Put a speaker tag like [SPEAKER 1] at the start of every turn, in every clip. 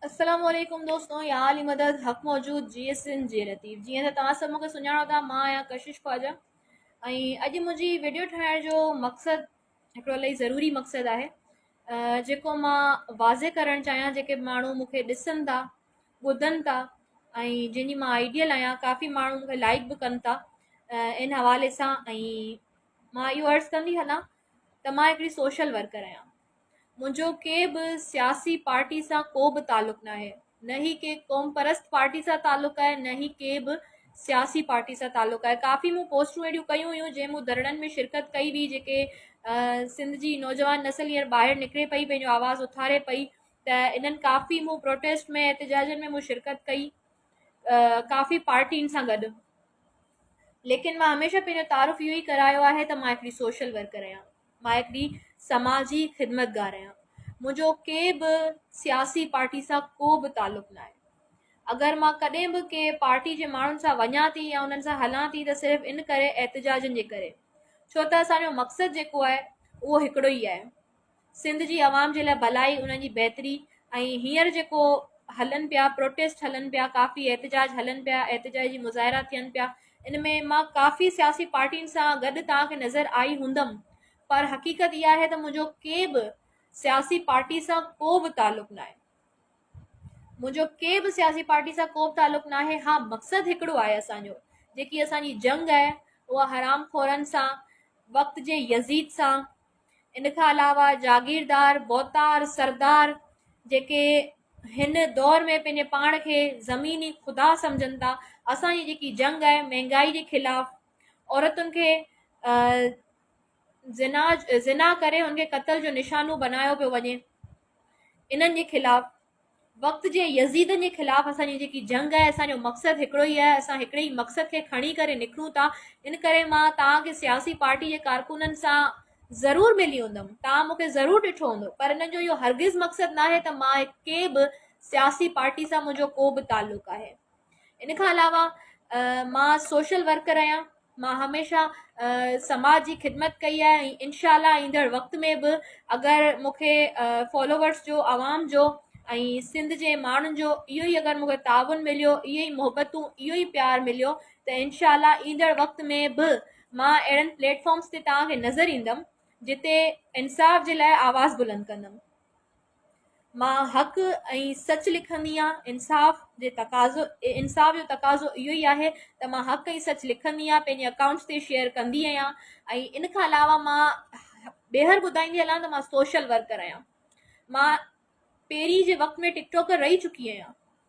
[SPEAKER 1] السلام عليڪم دوستو يا عالي مدد حق موجود جي ايس ان جي لطيف جيئن ته توهان سڀ مونکي سڃاڻو ٿا مان آهيان ڪشش خواجا ۽ اڄ منهنجي ويڊيو ٺاهڻ جو مقصد هڪڙو الاهي ضروري مقصد آهي جيڪو مان واضح ڪرڻ چاهيان جيڪي ماڻهو مونکي ڏسن ٿا ٻڌن ٿا ۽ جنهن جي مان آئيڊيل آهيان ڪافي ماڻهو مونکي لائڪ به ڪن ٿا ان حوالي سان ۽ مان اهو عرض ڪندي هلان ته مان هڪڙي سوشل ورڪر آهيان منهنجو ڪنهن به سياسي پارٽي سان ڪو به تعلق ناهي نه هي ڪي قوم پرست پارٽي سان تعلق آهي نه هي ڪي به سياسي پارٽي سان تعلق آهي ڪافي مون پوسٽون اهڙيون ڪيون هيون جنهن مون ڌرڻن ۾ شرڪت ڪئي هئي جيڪي سنڌ جي نوجوان نسل هينئر ٻاهر نڪري پئي پنهنجو آواز اٿاري پئي ته انهن ڪافي مون پروٽيسٽ ۾ احتجاجن ۾ مون شرڪت ڪئي ڪافي پارٽين سان گڏ ليڪن مان هميشه پنهنجو تعارف اهو ئي ڪرايو آهي ته مان هڪڙي سوشل ورڪر آهيان مان هڪڙي سماجي خدمتگار آهيان منهنجو ڪي به سياسي پارٽي سان ڪو به تعلق ناهي اگر مان ڪڏهن به ڪي پارٽي جي ماڻهن سان وڃان ٿي يا انهن سان هلان ٿي ته صرف ان ڪري احتجاجن جي ڪري ڇو ته اسانجو مقصد جيڪو آهي اهو هڪڙو ئي آهي سنڌ جي عوام جي لاء ڀلائي انهن جي بهتري ۽ هينئر جيڪو هلن پيا پروٽيسٽ هلن پيا ڪافي احتجاج هلن پيا احتجاج جي مظاهرا ٿين پيا ان ۾ مان ڪافي سياسي پارٽين سان گڏ توهان کي نظر آئي هوندم پر حقيقت اها آهي ته منهنجو ڪي به سياسي پارٽي سان ڪو به تعلق ناهي. منهنجو ڪي به سياسي پارٽي سان ڪو به تعلق ناهي ها مقصد هڪڙو آهي اسان جو جيڪي اسان جي جنگ آهي اها حرام خورن سان وقت جي يزيد سان ان کان علاوه جاگيردار، ڀوتار، سردار جيڪي هن دور ۾ پنهنجي پاڻ کي زميني خدا سمجهن ٿا اسان جي جيڪي جنگ آهي مهنگائي جي خلاف عورتن کي زنا زنا ڪري ان کي قتل جو نشانو بنايو پيو وڃي انهن جي خلاف وقت جي يزيدن جي خلاف اسان جي جيڪي جنگ آهي اسان جو مقصد هڪڙو ئي آهي اسان هڪڙي ئي مقصد کي کڻي ڪري نڪرون ٿا ان ڪري مان توهان کي سياسي پارٽي جي ڪارڪنن سان ضرور ملي هوندم توهان مون کي ضرور ڏٺو هوندو پر انهن جو اهو هرگز مقصد ناهي ته مان ڪنهن به سياسي پارٽي سان منهنجو ڪو به تعلق آهي ان کان علاوه مان سوشل ورڪر آهيان مان هميشه سماج جي خدمت ڪئي آهي ۽ انشاء الله ايندڙ وقت ۾ به اگر مونکي فالوورس جو عوام جو ۽ سنڌ جي ماڻهن جو اهو ئي اگر مونکي تعاون مليو اهي ئي محبتون اهو ئي پيار مليو ته انشاء الله ايندڙ وقت ۾ به مان اهڙن پليٽفارمس تي توهان کي نظر ايندم جتي انصاف جي لاء آواز بلند ڪندم مان حق ۽ سچ لکندي آهيان، انصاف جي تقاضو انصاف جو تقاضو اهو ئي آهي ته مان حق ۽ سچ لکندي آهيان پنهنجي اڪائونٽس تي شيئر ڪندي آهيان ۽ ان کان علاوه مان ٻيهر ٻڌائيندي هلان ته مان سوشل ورڪر آهيان مان پهرين جي وقت ۾ ٽڪ ٽاڪر رهي چڪي آهيان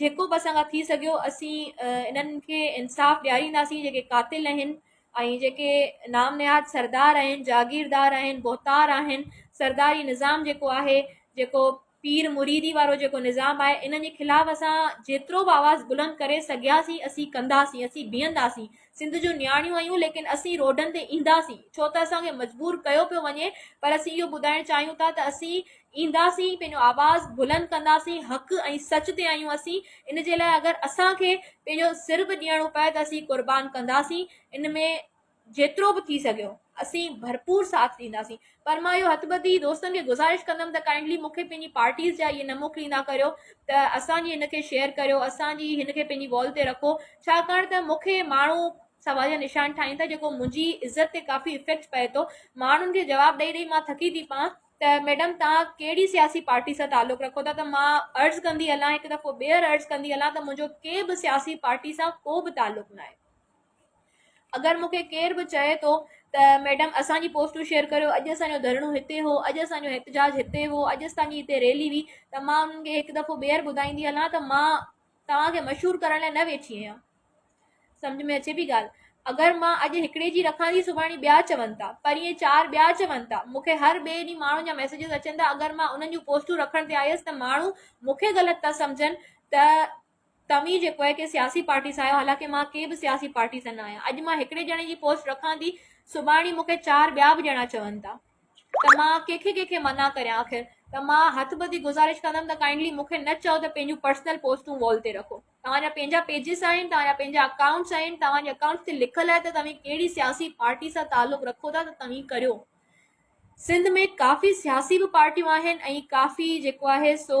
[SPEAKER 1] جيڪو به اسان کان ٿي سگهيو اسين انهن کي انصاف ڏيارينداسين جيڪي قاتل آهن ۽ جيڪي نام نهاد سردار آهن جاگيردار آهن بهتار آهن سرداري نظام جيڪو آهي جيڪو پير مريدي وارو جيڪو نظام آهي انهن جي خلاف اسان جيترو به آواز بلند ڪري سگهياسين اسين ڪنداسين اسين بيهنداسين سنڌ جون نياڻيون آهيون ليڪن اسين روڊن تي اينداسين ڇو ته اسان کي مجبور ڪيو پيو وڃي پر اسين اهو ٻڌائڻ چاهيون ٿا ته اسين اينداسين پنهنجو آواز بلند ڪنداسين حق ۽ سچ تي آهيون اسين ان جي لاء اگر اسان کي پنهنجو سر به ڏيڻو پئي ته اسين قربان ڪنداسين ان ۾ جيترو به ٿي سگهيو اسين ڀرپور ساٿ ڏينداسين پر مان اهو هٿ ٻڌي دوستن کي گذارش ڪندم ته ڪائنڊلي مون کي پنهنجي پارٽيز جا اهي نه موڪليندا ڪريو ته اسان جي هن کي شيئر ڪريو اسان جي هن کي پنهنجي وال تي رکو ڇاڪاڻ ته مون کي ماڻهو سوال جا نشان ٺاهين ٿا جيڪو منهنجي عزت تي ڪافي افيڪٽ پئي ٿو ماڻهن کي جواب ڏئي ڏئي مان ٿڪي ٿي پان ته ميڊم توهان ڪهڙي سياسي پارٽي سان تعلق رکو ٿا ته مان عرض ڪندي هلان هڪ دفعو ٻيهر عرض ڪندي هلان ته منهنجو ڪنهن به سياسي پارٽي سان ڪو به تعلق ناهي اگر مون کي ڪير به چئي ٿو ته ميڊم اسان جي پوسٽون شيئر ڪريو اڄ اسان جو ڌرڻو هتي هو اڄ اسان جو احتجاج هتي هو اڄ اسان جي هتي ريلي هئي ته مان انهن کي هڪ دفعو ٻيهر ٻڌائيندي هلان ته مان توهان کي مشهور ڪرڻ لاء نه ويٺي آهيان. سمجهه ۾ اچي پئي ڳالهه؟ اگر مان اڄ هڪڙي جي رکان ٿي سڀاڻي ٻيا چون ٿا پرينء چار ٻيا چون ٿا مون کي هر ٻئي ڏينهن ماڻهن جا ميسيجز اچن ٿا اگر مان انهن جون پوسٽون رکڻ تي آيس ته ماڻهو مون کي غلط ٿا سمجهن ته توهين جيڪو آهي ڪنهن سياسي پارٽي سان آهيو حالانڪه مان ڪنهن به سياسي پارٽي سان نه آهيان اڄ مان هڪڙي ڄڻي جي پوسٽ رکان ٿي سڀاڻي مون کي چار ٻيا به ڄڻا چون ٿا ته مان ڪنهن کي ڪنهن کي منع ڪريان آخر ته مان هٿ ٻڌي گذارش ڪندم ته ڪائنڊلي مون کي نه چئو ته پنهنجون پرسنل پوسٽون وال تي رکو توهان جا پنهنجا پيجز آهن توهان جا پنهنجا اڪائونٽس آهن توهان جي اڪائونٽس تي لکل آهي ته توهين ڪهڙي سياسي پارٽي سان تعلق رکو ٿا ته توهين ڪريو سنڌ ۾ ڪافي سياسي به پارٽيون آهن ۽ ڪافي جيڪو آهي سو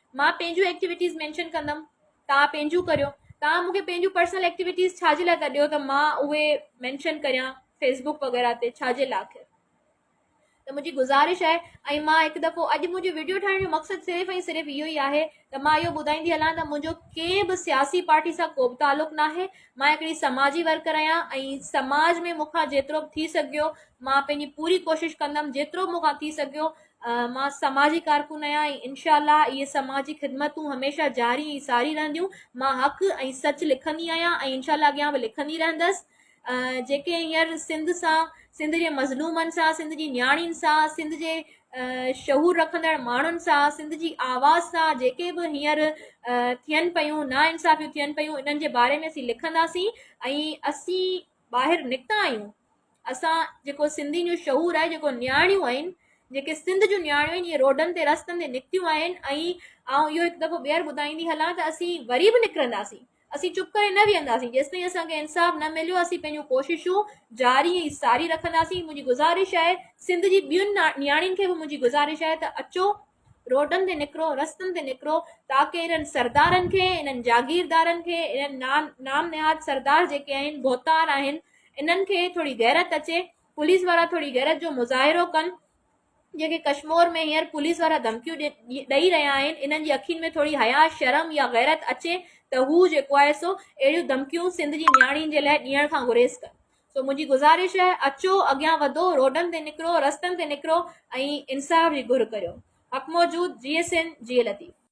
[SPEAKER 1] مان پنهنجون ايڪٽيوٽيز مينشن ڪندم توهان پنهنجون ڪريو توهان مونکي پنهنجون پرسنل ايڪٽيوٽيز ڇا جي لاء ٿا ڏيو ته مان اهي مينشن ڪريان فيسبوڪ وغيره تي ڇا جي لاء آخر ته منهنجي گذارش آهي ۽ مان هڪ دفعو اڄ منهنجو ويڊيو ٺاهڻ جو مقصد صرف ۽ صرف اهو ئي آهي ته مان اهو ٻڌائيندي هلان ته منهنجو ڪنهن به سياسي پارٽي سان ڪو به تعلق نه آهي مان هڪڙي سماجي ورڪر آهيان ۽ سماج ۾ مونکان جيترو به ٿي سگهيو مان پنهنجي پوري ڪوشش ڪندم جيترو به مونکان ٿي سگهيو مان سماجي ڪارڪن آهيان ۽ انشاء الله اهي سماجي خدمتون هميشه جاري ۽ ساري رهنديون مان حق ۽ سچ لکندي آهيان ۽ انشاء الله اڳيان به لکندي رهندس جيڪي هينئر سنڌ سان سنڌ جي مظلومن سان سنڌ جي نياڻين سان سنڌ جي شعور رکندڙ ماڻهن سان سنڌ جي آواز سان جيڪي به هينئر ٿين پيون نا انصافيون ٿين پيون انهن جي باري ۾ اسين لکنداسين ۽ اسين ٻاهر نڪتا آهيون اسان جيڪو سنڌين جو شعور آهي جيڪو نياڻيون آهن جيڪي سنڌ جون نياڻيون آهن اهي روڊن تي رستن تي نڪتيون آهن ۽ آئون اهو هڪ دفعو ٻيهر ٻڌائيندي هلان ته اسين وري به نڪرنداسين اسين چپ ڪري نه ويهنداسين جيستائين اسانکي انصاف نه مليو اسين پنهنجون ڪوششون جاري ۽ ساري رکنداسين منهنجي گذارش آهي سنڌ جي ٻين نياڻين کي به منهنجي گذارش آهي ته اچو روڊن تي نڪرو، رستن تي نڪرو تاڪه انهن سردارن کي، انهن جاگيردارن کي، انهن نام نهاد سردار جيڪي آهن، ڀوتار آهن، انهن کي ٿوري غيرت اچي، پوليس وارا ٿوري غيرت جو مظاهرو ڪن، جيڪي ڪشمور ۾ هينئر پوليس وارا ڌمڪيون ڏئي رهيا آهن، انهن جي اکين ۾ ٿوري حياء، شرم يا غيرت اچي ته هو جيڪو آهي سو اهڙيون ڌمڪيون سنڌ جي نياڻين جي لاء ڏيڻ کان گريز ڪن. سو منهنجي گذارش آهي اچو اڳيان وڌو روڊن تي نڪرو رستن تي نڪرو ۽ انصاف جي گهر ڪريو حق موجود جي ايس اين جي لطيف.